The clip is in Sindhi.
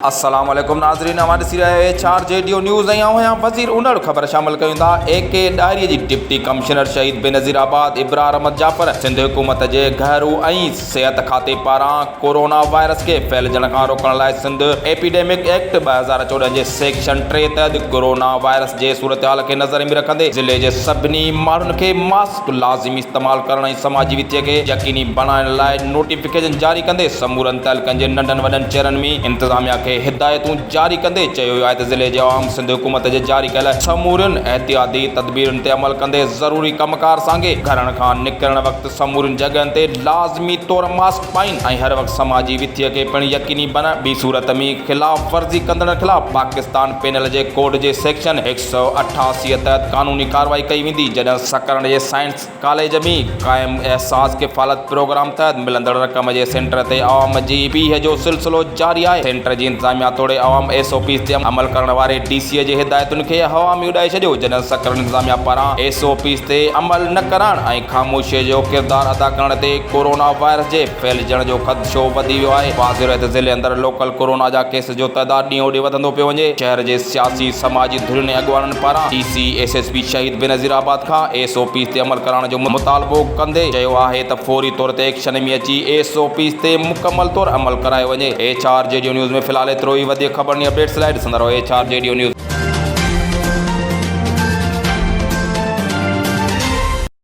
السلام عليڪم ناظرين اوهان ڏسي رهيا آهيو ايڇ آر جي ڊيو نيوز ۽ آئون آهيان وزير انڙ خبر شامل ڪيون ٿا اي ڪي ڏاهري جي ڊپٽي ڪمشنر شهيد بينظير آباد ابرار احمد جعفر سنڌ حڪومت جي گهرو ۽ صحت کاتي پاران ڪورونا وائرس کي ڦهلجڻ کان روڪڻ لاء سنڌ ايپيڊيمڪ ايڪٽ ٻه هزار چوڏهن جي سيڪشن ٽي تحت ڪورونا وائرس جي صورتحال کي نظر ۾ رکندي ضلعي جي سڀني ماڻهن کي ماسڪ ڪو لازمي استعمال ڪرڻ ۽ سماجي وٿي کي يقيني بڻائڻ لاء نوٽيفڪيشن جاري ڪندي سمورن تعلقن جي ننڍن وڏن چيئرن مين انتظاميا کي هدايتون جاري ڪندي چيو ويو آهي ته ضلعي جي عوام سنڌ حڪومت جي جاري ڪيل سمورين احتياطي تدبيرن تي عمل ڪندي ضروري ڪم ڪار سانگي گهرن کان نڪرڻ وقت سمورين جڳهين تي لازمي طور ماسڪ پائين ۽ هر وقت سماجي وٿي کي پڻ يقيني بڻائين ٻي صورت ۾ خلاف ورزي ڪندڙن خلاف پاڪستان پينل جي ڪوڊ جي سيڪشن سؤ اٺاسي تحت قانوني ڪارروائي ڪئي ويندي جڏهن سڪرنڊ جي سائنس ڪاليج ۾ قائم احساس ڪفالت پروگرام تحت ملندڙ رقم جي سينٽر تي عوام جي پيهه جو سلسلو جاري آهي سينٽر جي انتظاميا توڙي عوام ايس او پيز تي عمل ڪرڻ واري ڊي سي جي هدايتن کي هوا ۾ اڏائي ڇڏيو جڏهن سڪرنڊ انتظاميا پاران ايس او پيز تي عمل نه ڪرڻ ۽ خاموشي جو ڪردار ادا ڪرڻ تي ڪورونا وائرس جي ڦهلجڻ جو خدشو وڌي ويو آهي واضح رهي ته ضلعي اندر لوڪل ڪورونا جا ڪيس جو تعداد ڏينهن هو ڏينهن وڌندو پيو وڃي، شهر جي سياسي سماجي ڌرين ۽ اڳواڻن پاران D C S S P Shaheed Benazirabad کان ايس او پيز تي عمل ڪرائڻ جو مطالبو ڪندي چيو آهي ته فوري طور تي ايڪشن ۾ اچي ايس او پيز تي مڪمل طور عمل ڪرايو وڃي ايڇ آر جيڊيو نيوز ۾ في الحال ايترو ئي وڌيڪ خبرن ۽ اپڊيٽس لاء ڏسندا رهو ايڇ آر جيڊيو نيوز.